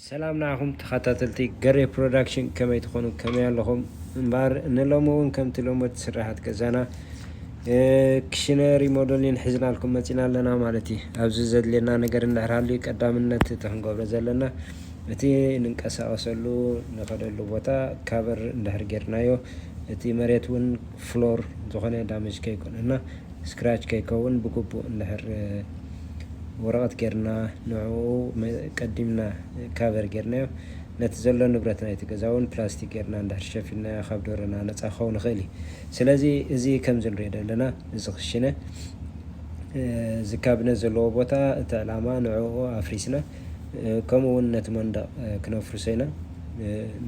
ሰላም ንዓኹም ተኸታተልቲ ገሬ ፕሮዳክሽን ከመይ ትኾኑ ከመይ ኣለኹም እምበኣር ንሎሚ እውን ከምቲ ልሙድ ስራሓት ገዛና ክሽነ ሪሞደሊን ሒዝናልኩም መፂና ኣለና ማለት እዩ ኣብዚ ዘድልየና ነገር እንድሕር ሃልዩ ቀዳምነት እቲ ክንገብሮ ዘለና እቲ ንንቀሳቐሰሉ ንኸደሉ ቦታ ካበር እንድሕር ጌርናዮ እቲ መሬት እውን ፍሎር ዝኾነ ዳመጅ ከይኮነና ስክራች ከይከውን ብግቡእ እንድሕር ወረቐት ጌርና ንዕኡ ቀዲምና ካቨር ጌርናዮ ነቲ ዘሎ ንብረት ናይቲ ገዛ ውን ፕላስቲክ ጌርና እንድሕር ሸፊንናዮ ካብ ደሮና ነጻ ክኸውን ይኽእል እዩ። ስለዚ እዚ ከምዚ ንሪኦ ዘለና እዚ ክሽነ እዚ ካብነ ዘለዎ ቦታ እቲ ዕላማ ንዕኡ ኣፍሪስና ከምኡ ውን ነቲ መንደቕ ክነፍርሶ ኢና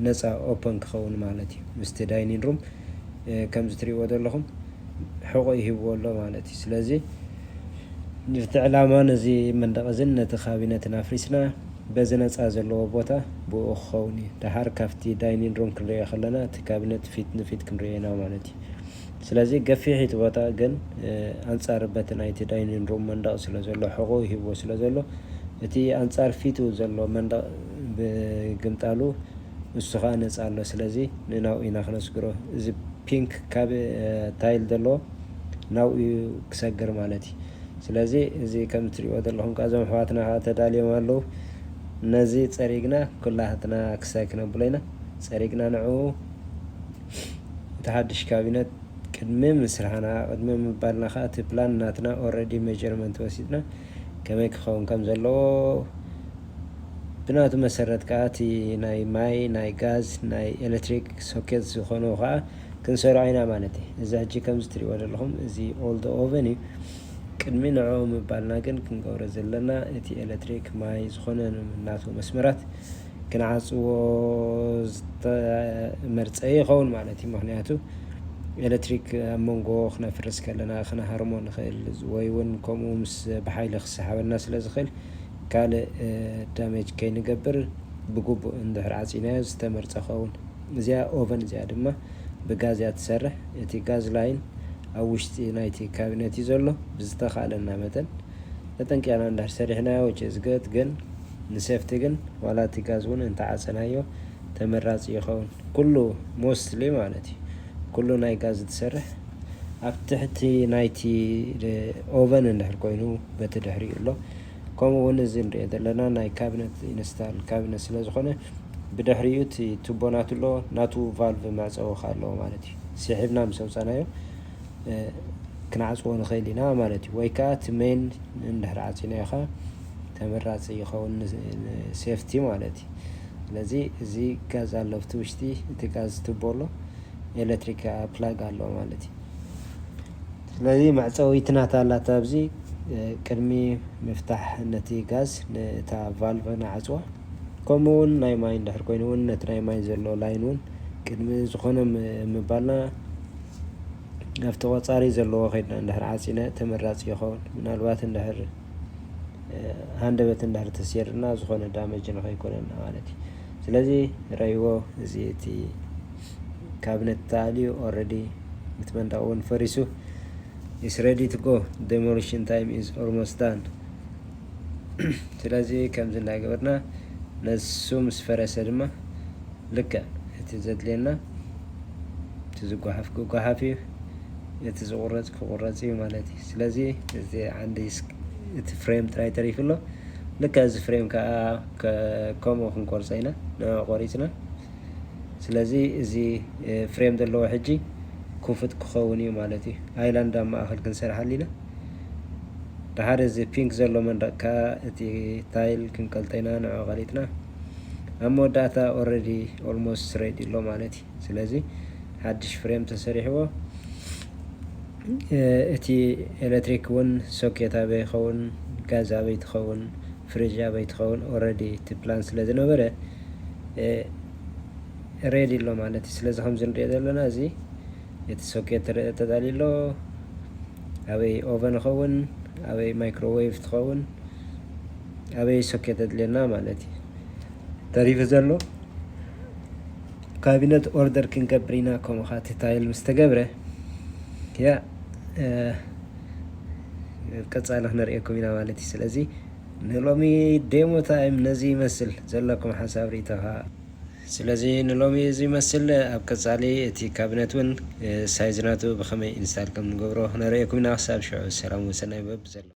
ነጻ ኦፐን ክኸውን ማለት እዩ ምስቲ ዳይኒን ሩም ከምዚ ትሪእዎ ዘለኹም ሕቖ ይህብዎ ኣሎ ማለት እዩ። ስለዚ ነቲ ዕላማ ነዚ መንደቕ እዝን ነቲ ካቢነትን ኣፍሪስና በዚ ነጻ ዘለዎ ቦታ ብእኡ ክኸውን እዩ። ደሓር ካብቲ ዳይኒን ሩም ክንርእዮ ከለና እቲ ካቢነት ፊት ንፊት ክንርእዮ ኢና ማለት እዩ። ስለዚ ገፊሕ እዩ እቲ ቦታ ግን ኣንጻር በቲ ናይቲ ዳይኒን ሩም መንደቕ ስለ ዘሎ ሕቖኡ ሂብዎ ስለ ዘሎ እቲ ኣንጻር ፊቱ ዘሎ መንደቕ ብግምጣሉ ንሱ ከኣ ነጻ ኣሎ ስለዚ ንናኡ ኢና ክነስግሮ እዚ ፒንክ ካብ ታይል ዘሎ ናብኡ እዩ ክሰግር ማለት እዩ ስለዚ እዚ ከም ትሪእዎ ዘለኹም ከኣ እዞም ኣሕዋትና ከኣ ተዳልዮም ኣለዉ ነዚ ጸሪግና ኩላትና ክሳይ ክነብሎ ኢና ጸሪግና ንዕኡ እቲ ሓድሽ ካቢነት ቅድሚ ምስርሓና ቅድሚ ምባልና ከኣ እቲ ፕላን ናትና ኦረዲ መጀርመንት ወሲድና ከመይ ክኸውን ከም ዘለዎ ብናቱ መሰረት ከኣ እቲ ናይ ማይ፣ ናይ ጋዝ፣ ናይ ኤለትሪክ ሶኬት ዝኾኑ ከኣ ክንሰርዖ ኢና ማለት እዩ። እዚ ሕጂ ከምዚ ትርእይዎ ዘለኹም እዚ ኦልዶ ኦቨን እዩ። ቅድሚ ንዕኡ ምባልና ግን ክንገብሮ ዘለና እቲ ኤለትሪክ፣ ማይ ዝኾነ ናቱ መስመራት ክንዓጽዎ ዝተመርጸ ይኸውን ማለት እዩ። ምኽንያቱ ኤለትሪክ ኣብ መንጎ ክነፍርስ ከለና ክንሃርሞ ንኽእል ወይ ውን ከምኡ ምስ ብሓይሊ ክሰሓበና ስለ ዝኽእል፣ ካልእ ዳሜጅ ከይንገብር ብግቡእ እንድሕር ዓጺናዮ ዝተመርጸ ክኸውን። እዚኣ ኦቨን እዚኣ ድማ ብጋዝ እያ ትሰርሕ። እቲ ጋዝ ላይን ኣብ ውሽጢ ናይቲ ካቢነት እዩ ዘሎ። ብዝተኻእለና መጠን ተጠንቂቕና እንድሕር ሰሪሕናዮ which is good ግን ንሴፍቲ ግን ዋላ እቲ ጋዝ እውን እንተዓጸናዮ ተመራጺ ይኸውን። ኩሉ mostly ማለት እዩ ኩሉ ናይ ጋዝ ዝሰርሕ። ኣብ ትሕቲ ናይቲ ኦቨን እንድሕር ኮይኑ በቲ ድሕሪኡ ኣሎ። ከምኡ ውን እዚ ንሪኦ ዘለና ናይ ካብነት ኢንስታል ካብነት ስለ ዝኾነ ብድሕሪኡ እቲ ቱቦ ናቱ ኣሎ ናቱ ቫልቭ መዕጸዊ ከኣ ኣለዎ ማለት እዩ ሲሒብና ምስ ኣውጻናዮ ክንዓጽዎ ንኽእል ኢና ማለት እዩ ወይ ከኣ እቲ ሜን እንድሕር ዓጺናዮ ከኣ ተመራጺ ይኸውን ሴፍቲ ማለት እዩ ስለዚ እዚ ጋዝ ኣሎ ኣብቲ ውሽጢ እቲ ጋዝ ቱቦ ኣሎ ኤሌክትሪክ ፕላግ ኣሎ ማለት እዩ ስለዚ መዕጸዊት ናታ ኣላታ ኣብዚ ቅድሚ ምፍታሕ ነቲ ጋዝ ንእታ ቫልቭ ንዓጽዋ ከምኡ ውን ናይ ማይ እንድሕር ኮይኑ ውን ነቲ ናይ ማይ ዘሎ ላይን ውን ቅድሚ ዝኾነ ምባልና ኣብቲ ቆጻሪ ዘለዎ ከድና እንድሕር ዓጺና ተመራጺ ይኸውን ምናልባት እንድሕር ሃንደበት እንድሕር ተሰይርና ዝኾነ ዳመጅ ንኸይኮነና ማለት እዩ ስለዚ ርኣይዎ እዚ እቲ ካብነት ተኣልዩ ኦረዲ እቲ መንደቅ እውን ፈሪሱ ኢስ ረዲ ቱ ጎ ደሞሊሽን ታይም ኢዝ ኦርሞስት ዳን ስለዚ ከምዚ እንዳገበርና ነሱ ምስ ፈረሰ ድማ ልክዕ እቲ ዘድልየና እቲ ዝጓሓፍ ክጓሓፍ እዩ እቲ ዝቁረፅ ክቁረፅ እዩ ማለት እዩ ስለዚ እዚ ዓንዲ እቲ ፍሬም ጥራይ ተሪፉ ኣሎ ልክዕ እዚ ፍሬም ከዓ ከምኡ ክንቆርፆ ኢና ንዕኡ ቆሪፅና ስለዚ እዚ ፍሬም ዘለዎ ሕጂ ኩፍት ክኸውን እዩ ማለት እዩ ኣይላንድ ኣብ ማእኸል ክንሰርሕ ኣሊና ብሓደ እዚ ፒንክ ዘሎ መንደቅ ከዓ እቲ ታይል ክንቀልጠ ኢና ንዑ ቀሊጥና ኣብ መወዳእታ ኦልሬዲ ኦልሞስት ሬዲ ኣሎ ማለት እዩ ስለዚ ሓድሽ ፍሬም ተሰሪሕዎ እቲ ኤሌክትሪክ እውን ሶኬት ኣበይ ይኸውን ጋዝ ኣበይ ትኸውን ፍሪጅ ኣበይ ትኸውን ኦልሬዲ እቲ ፕላን ስለ ዝነበረ ሬድ ኣሎ ማለት እዩ ስለዚ ከምዚ ንሪኦ ዘለና እዚ እቲ ሶኬት ተዳልዩ ኣሎ ኣበይ ኦቨን ይኸውን ኣበይ ማይክሮዌቭ ትኸውን ኣበይ ሶኬት ተድልየና ማለት እዩ ተሪፉ ዘሎ ካቢነት ኦርደር ክንገብር ኢና ከምኡ ከዓ እቲ ታይል ምስ ተገብረ ያ ቀፃሊ ክንሪኤኩም ኢና ማለት እዩ ስለዚ ንሎሚ ዴሞ ታይም ነዚ ይመስል ዘለኩም ሓሳብ ሪኢቶ ሃ። ስለዚ ንሎሚ እዚ ይመስል ኣብ ቀጻሊ እቲ ካብነት ውን ሳይዝ ናቱ ብከመይ ኢንስታል ከም ንገብሮ ክነርእየኩም ኢና ክሳብ ሽዑ ሰላም ወሰናይ በቢ ዘለኩሞ።